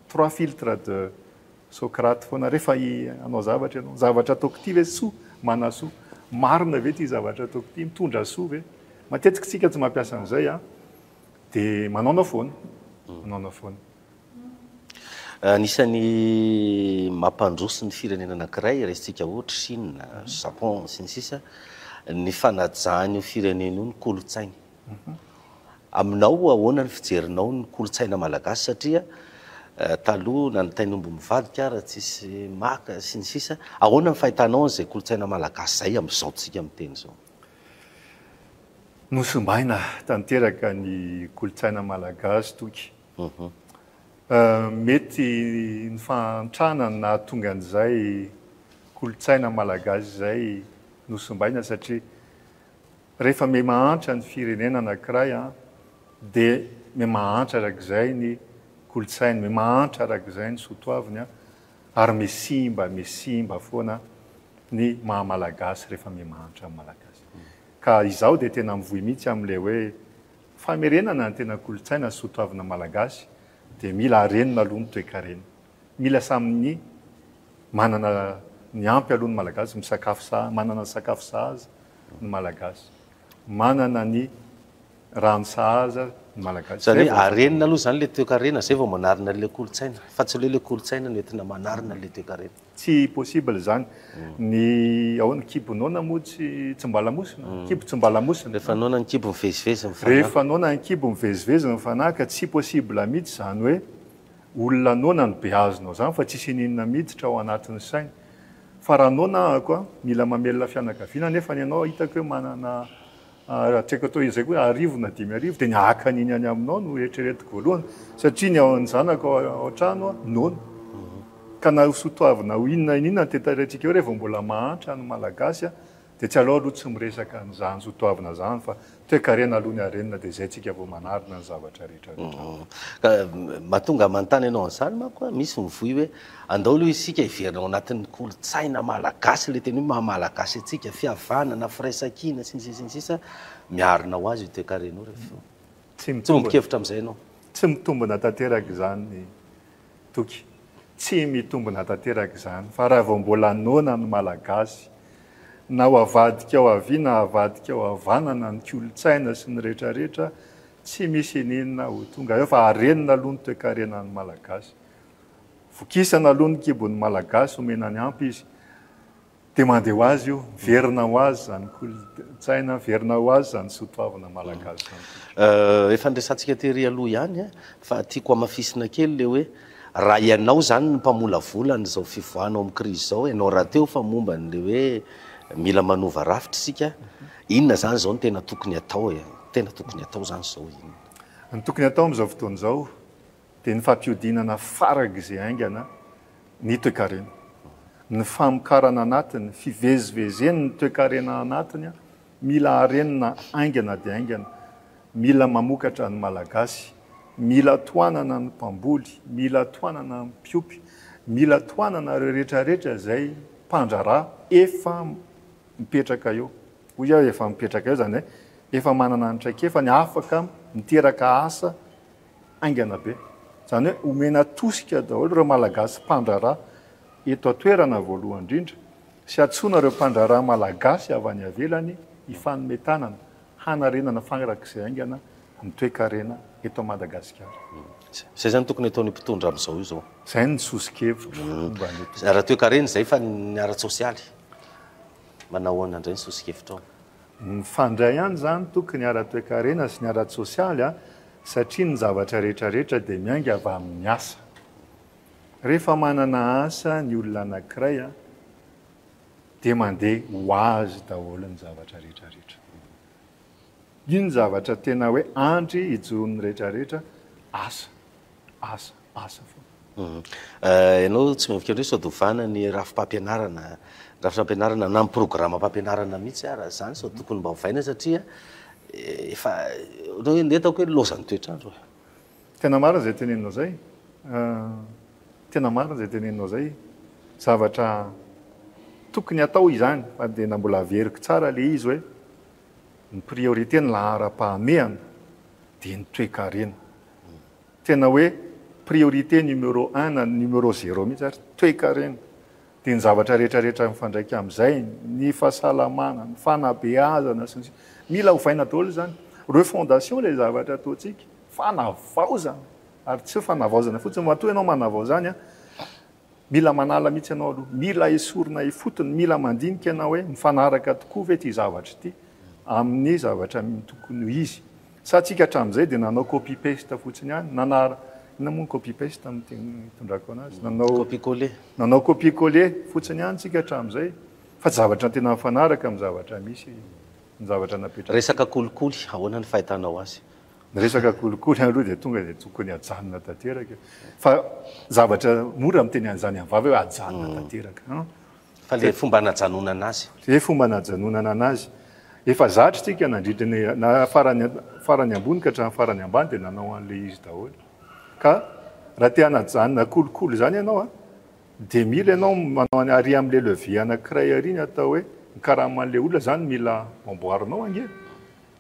trois filtres de Socrate foana refa hanao zavatra ianao, zavatra ataoko ity ve soa manasoa? Marina ve ity zavatra ataoko ity? Mitondra soa ve? Matetika tsika tsy mampiasa an'izay an! De manaona foana, manaona foana. Anisan'ny mampandroso ny firenena anankiray, raisintsika ohatra Chine, Japon, sy ny sisa, ny fanajany io firenena io ny kolontsainy. Aminao ahoana ny fijerinao ny kolontsaina malagasy satria taloha nanitainy omby mivadika ary tsisy maka sy ny sisa ahoana ny fahitanao an'izay kolontsaina malagasy izay amin'izao tsika miteny izao? Nosimbaina tanteraka ny kolontsaina malagasy toky. Mety ny fahantrana no nahatonga an'izay kolontsaina malagasy izay nosimbaina satria. Rehefa miha-mahantra ny firenena anankiray dia miha-mahantra arak'izay ny kolontsainy, miha-mahantra arak'izay ny sotoaviny ary miha-simba, miha-simba foana ny maha-malagasy rehefa miha-mahantra ny malagasy. Ka izaho dia tena mivoy mihitsy amin'ilay hoe famerenana ny tena kolontsaina sy sotoavina malagasy dia mila harenina aloha ny toekarena. Mila samy ny manana ny ampy aloha ny Malagasy, misakafo sahaza, manana sakafo sahaza ny Malagasy, manana ny rano sahaza ny Malagasy. Izany hoe arenina aloha izany ilay toekarena, izay vao manarina ilay kolontsaina. Fa tsy hoe ilay kolontsaina no entina manarina ilay toekarena. Tsy possible izany. Ny ahoana, kibo noana moa tsy tsy mba lamosina? Kibo tsy mba lamosina. Rehefa noana ny kibo mivezivezy ny fanahy. Rehefa noana ny kibo mivezivezy ny fanahy ka tsy possible mihitsy izany hoe Olona noana no behazinao zany fa tsisy ininona miditra ao anatiny sainy. Fa raha noana ahako a, mila mamelona fianakaviana nefany ianao hitako hoe manana atreaka toa izay koa arivo na dimy arivo dia ny haka an'iny any aminao no eritreretiko voalohany satria ny ao an'ny zanako ao an-trano a noana. Ka na ho sotoavina ho inona ininona ny tetaretsikeo re vao mbola mahantra ny malagasy a, Dia tsy aleo aloha tsy miresaka an'izany zo toavina izany fa toekarena aloha ny harenina dia izay tsika vao manarina ny zavatra rehetra rehetra. Ka mahatonga ahy manontany anao an'izany manko aho, misy mivoy hoe andao aloha isika hiverina ao anatin'ny kolontsaina malagasy, ilay teny hoe maha malagasy antsika, fihavanana, firaisankina sy ny sisa sy ny sisa, miarina ho azy io toekarena io rehefa eo. Tsy mitombina. Miombon-kevitra amin'izay ianao? Tsy mitombina tanteraka izany ny. Toky. Tsy mitombina tanteraka izany fa raha vao mbola noana ny Malagasy, na ho avadika ao havia na avadika ao havanana ny kolontsaina sy ny rehetrarehetra, tsy misy ininona ho tonga eo fa harenina aloha ny toekarenan'ny Malagasy. Vokisana aloha ny kibon'ny Malagasy, omena ny ampy izy. Dia mandeha ho azy io, miverina ho azy izany kolontsaina, miverina ho azy izany soa toavina malagasy izany koa. Efa niresahantsika tery aloha ihany fa tiako hamafisina kely ilay hoe raha ianao izany no mpamolavola an'izao fivoahana ao amin'ny krizy izao, ianao rahateo fa momba an'ilay hoe mila manova rafitra isika, inona izany izao no tena tokony atao e? Ny tena tokony atao izany izao inona? Ny tokony atao amin'izao fotoana izao, dia ny fampihodinana farak'izay haingana ny toekarena. Ny famokarana anatiny, fivezivezen'ny toekarena anatiny mila harenina haingana dia haingana, mila mamokatra ny Malagasy, mila tohanana ny mpamboly, mila tohanana ny mpiompy, mila tohanana ireo rehetra rehetra izay mpandraharaha efa mipetraka eo. Hoy aho efa mipetraka eo izany hoe efa manana ny traikefany, afaka miteraka asa. haingana be. Izany hoe omena tosika daholo ireo Malagasy mpandraharaha eto an-toerana voalohany indrindra sy antsoina ireo mpandraharaha Malagasy avy any ivelany hifanome tanana hanarenana farak'izay haingana ny toekarena eto Madagasikara. Izay izany tokony ataon'io mpitondra amin'izao io izao. Izay ny soso-kevitro momba an'io mpitondra. Ara-toekarena izay fa ny ara-tsosialy? Manao ahoana indray ny soso-kevitrao? Mifandray ihany izany toky ny ara-toekarena sy ny ara-tsosialy satria ny zavatra rehetra rehetra dia miainga avy amin'ny asa. Rehefa manana asa ny olona anankiray dia mandeha ho azy daholo ny zavatra rehetra rehetra. Iny zavatra tena hoe andry hijoron'ny rehetra rehetra asa. asa, asa foana. Ianao tsy miavaka indray sao dia ovana ny rafi-pampianarana, rafitra ampianarana na ny programam-pampianarana mihitsy raha izany sao tokony mba ovaina satria efa ohatran'ny hoe ny hitako hoe laozan'ny toetr'andro e. Tena marina izay teneninao izay, tena marina izay teneninao izay, zavatra tokony hatao izany fa dia na mbola averiko tsara ilay izy hoe ny priorité ny laharam-pahamehana dia ny toekarena. tena hoe priorité numéro un na numéro zéro mihitsy ary toekarena dia ny zavatra rehetra rehetra mifandraika amin'izay ny fahasalamana ny fanabeazana sy ny sisa mila ovaina daholo izany refondation ilay zavatra ataontsika fanavaozana ary tsy fanavaozana fotsiny matoa ianao manavao izany an Mila manala mihitsy ianao aloha. Mila esorina ifotony. Mila mandinika ianao hoe mifanaraka tokoa ve ity zavatra ity amin'ny zavatra tokony ho izy. Sa antsika hatramin'izay dia nanao copy paste fotsiny ihany, nanara, inona moa ny copy paste amin'ny teny itondrako anazy? Nanao, Copie coller. nanao copie coller fotsiny ihany tsika hatramin'izay fa tsy zavatra tena mifanaraka amin'ny zavatra misy, ny zavatra napetratsika. Resaka kolikoly, ahoana ny fahitanao azy? Ny resaka kolikoly aloha dia tonga dia tokony ajanona tanteraka fa zavatra mora miteny an'izany amin'ny vava hoe ajanona mm. tanteraka. Hmm? Fa le fomba anajanonana azy. Le fomba anajanonana azy. Efa zatra tsika nandritra ny na farany farany ambony ka hatramin'ny farany ambany dia nanao an'le izy daholo. Ka raha te hanajanona kolikoly izany ianao a dia mila ianao manao any ary amin'le levier anankiray ary ny atao hoe ny karaman'le olona izany mila amboarinao ange.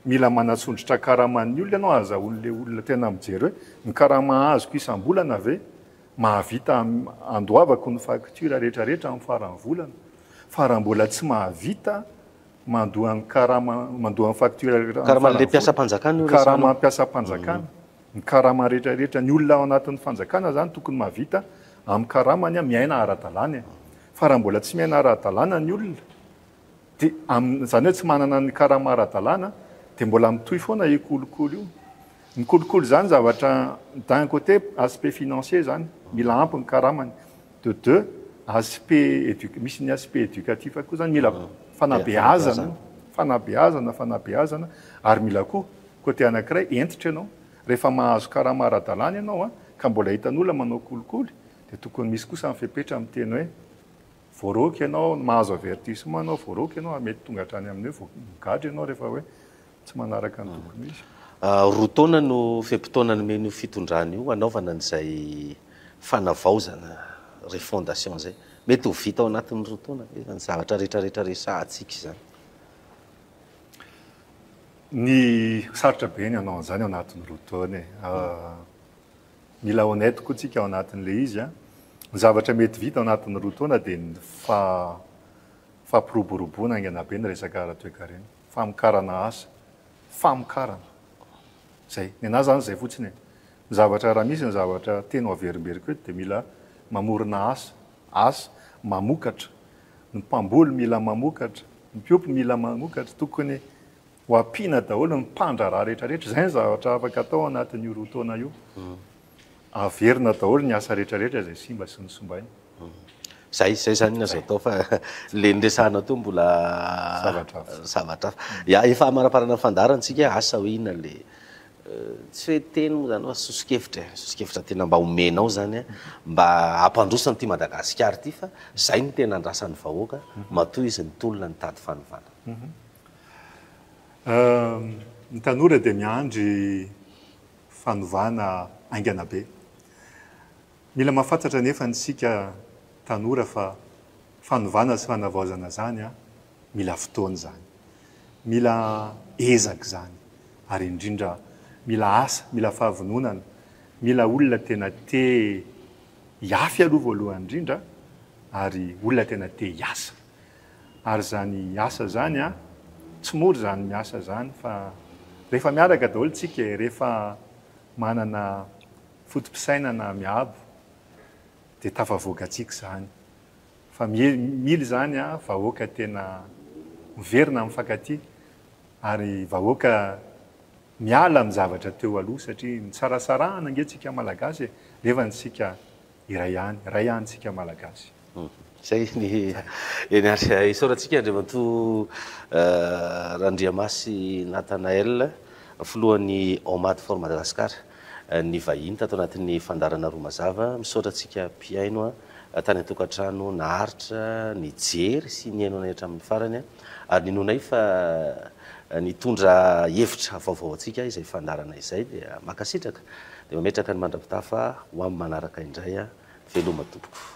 Mila manatsondrotra karaman'ny olona ianao ahazahoany ilay olona tena mijery hoe ny karama azoko isam-bolana ve mahavita handoavako ny facture rehetrarehetra amin'ny faran'ny volana fa raha mbola tsy mahavita mandoa ny karama mandoa ny facture amin'ny faran'ny volana. Karaman'ilay mpiasam-panjakana io resahanao? Karama mpiasam-panjakana. Ny karama rehetrarehetra. Ny olona ao anatin'ny fanjakana izany tokony mahavita amin'ny karamany miaina ara-dalàna e. Fa raha mbola tsy miaina ara-dalàna ny olona. Dia amin'ny, izany hoe tsy manana ny karama ara-dalàna, dia mbola mitohy foana io kolikoly io. Ny kolikoly izany zavatra, d'un côté, aspect financier izany, mila ampy ny karamany. De deux, aspect éduc, misy ny aspect éducatif koa izany, mila fanabeazana, fanabeazana, fanabeazana, ary mila koa, côté anankiray, hentitra ianao. Rehefa mahazo karama ara-dalàna ianao, ka mbola hitan'olona manao kolikoly, dia tokony misy kosa ny fepetra amin'ny teny hoe, Voaroaka ianao, ny mahazo avertissement ianao voaroaka ianao ary mety tonga hatrany amin'ny hoe voa- migadra ianao rehefa hoe tsy manaraka ny tokony ho izy. Roa taona no fe-potoana nomen'io fitondrana io hanaovana an'izay fanavaozana, refondation, izay. Mety ho vita ao anatin'ny roa taona ve izany zavatra rehetrarehetra resahantsika izany? Ny, sarotra be ny hanao an'izany ao anatin'ny roa taona e. Mila honnête koa tsika ao anatin'ilay izy an! Ny zavatra mety vita ao anatin'ny roa taona dia ny fa fampiroboroboana haingana be ny resaka ara-toekarena, famokarana asa, famokarana! Zay! Nenaha zany zay fotsiny e! Ny zavatra raha misy ny zavatra tena ho averimberiko eto dia mila mamorona asa, asa, mamokatra, ny mpamboly mila mamokatra, ny mpiompy mila mamokatra, tokony Ho ampiana daholo ny mpandraharaha rehetra rehetra, izay ny zavatra afaka atao anatin'io roa taona io. Averina daholo ny asa rehetra rehetra izay simba sy nosimbaina. Izay, izay izany no azo atao fa ilay niresahana teo mbola zavatra hafa. Zavatra hafa. Ya, efa hamaraparana ny fandaharantsika asa hoe inona ilay tsy hoe teny moa izany fa soso-kevitra e, soso-kevitra tena mba omenao izany mba hampandroso an'ity Madagasikara ity fa izay no tena andrasan'ny vahoaka matoa izy nitolona nitady fanovana. Ny tanora dia miandry fanovana haingana be. Mila mahafantatra anefa isika tanora fa fanovana sy fanavaozana izany mila fotoana izany, mila ezaka izany ary indrindra mila asa, mila fahavononana, mila olona tena te hihafy aloha voalohany indrindra ary olona tena te hiasa. Ary zany asa zany an, tsy mora zany miasa zany fa rehefa miaraka daholo tsika e, rehefa manana foto-pisainana miabo dia tafavoaka tsika zany. Fa mila zany an vahoaka tena miverina mifankatia ary vahoaka miala amin'ny zavatra teo aloha satria nisarasarahana ange tsika malagasy e, nefa ny sika. Iray ihany, iray ihany isika Malagasy. Izay ny eny ary isaorantsika Andriamatoa Randriamasy Nathanaël, filohan'ny Omad for Madagascar nivahiny tato anatin'ny fandaharana Roa Mazava. Misaotra antsika mpihaino tany an-tokantrano naharitra nijery sy nihaino anay hatramin'ny farany. Ary ninoanay fa nitondra hevitra vaovao antsika izay fandaharana izay dia mankasitraka dia mametraka ny mandrapitafa ho amin'ny manaraka indray a! Veloma tompoko.